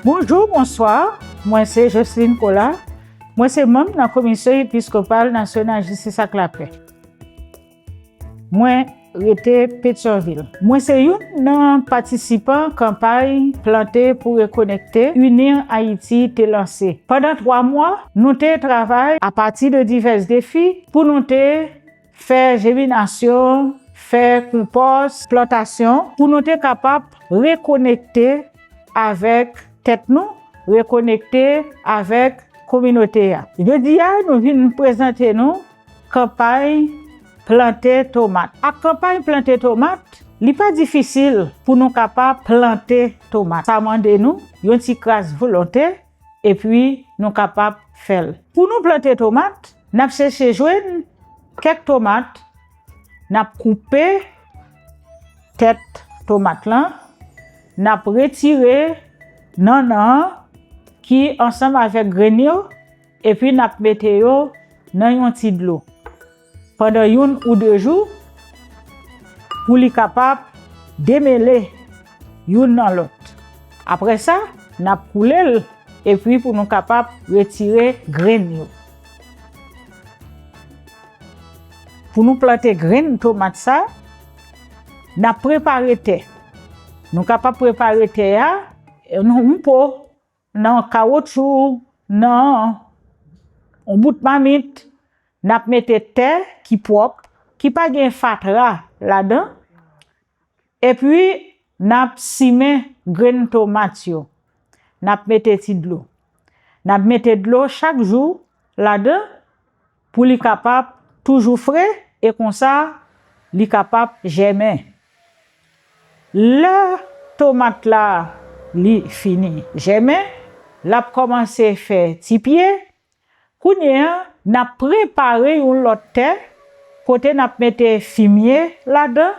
Bonjou, bonswa, mwen se Jocelyne Colas, mwen se manm nan Komisyon Episkopal Nasyonal Jistis ak Lapè. Mwen rete Petyonvil. Mwen se youn nan patisipan kanpay Plante pou Rekonekte, Unir Haïti te lanse. Pandan twa mwa, nou te travay apati de divès defi pou nou te Fè jeminasyon, fè konpòs, plantasyon. Pou nou te kapab rekonekte avèk tèt nou, rekonekte avèk kominote a. Jodi a nou vin prezante nou kanpay plante tomat. Ak kanpay plante tomat, li pa difisil pou nou kapab plante tomat. Sa mande nou yon ti kras volonte epi nou kapab fè l. Pou nou plante tomat, n ap sèche jwenn kèk tomat, n ap koupe tèt tomat lan, n ap retire nannan an ki ansanm avèk grenn yo epi n ap mete yo nan yon ti dlo. Pandan youn ou de jou, pou li kapab demele youn nan lòt. Apre sa, n ap koule l epi pou nou kapab retire grenn yo. Pou nou plante grenn tomat sa, n ap prepare tè. Nou kapab prepare tè a nan yon po. Nan kawotchou, nan yon bout mamit, n ap mete tè ki pwòp, ki pa gen fatra ladan, epi n ap simen grenn tomat yo. N ap mete ti dlo. N ap mete dlo chak jou ladan. Pou li kapab toujou fre e konsa li kapab jèmen. Lè tomat la li fini jèmen, l ap kòmanse fè ti pye. Kounye a, n ap prepare yon lòt tè kote n ap mete fimye ladan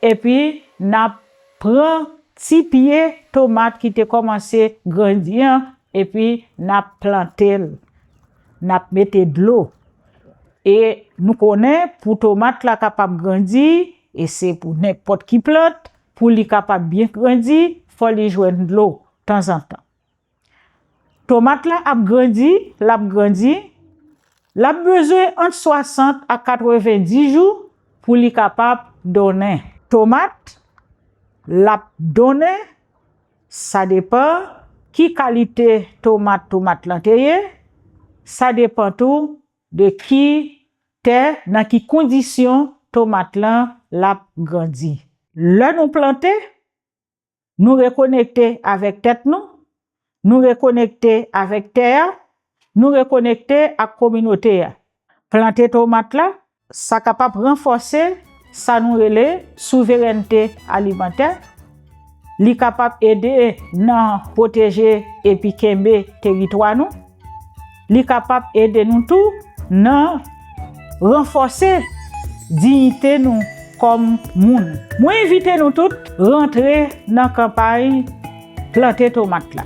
epi n ap pran ti pye tomat ki te kòmanse grandi an epi n ap plante l. nap mete dlo e nou konnen pou tomat la kapab grandi e se pou nenpòt ki plant pou li kapab byen grandi fò li jwenn dlo tanzantan. Tomat la ap grandi, lap grandi, lap bezwen ant 60 a 90 jou pou li kapab donnen. Tomat lap donnen. Sa depan ki kalite tomat tomat lan te ye, sa depan tou de ki tè, nan ki kondisyon tomat lan lap grandi. Lè nou plante, nou rekonekte avèk tèt nou, nou rekonekte avèk tè a, nou rekonekte ak kominote a. Plante tomat la Sa kapab ranfòse sa nou rele souverènte alimantè, li kapab ede nan pwoteje epi kenbe teritwa nou, li kapab ede nou tou nan ranfòse diyite nou kòm moun. Mwen envite nou tout rantre nan kanpay plante tomat la.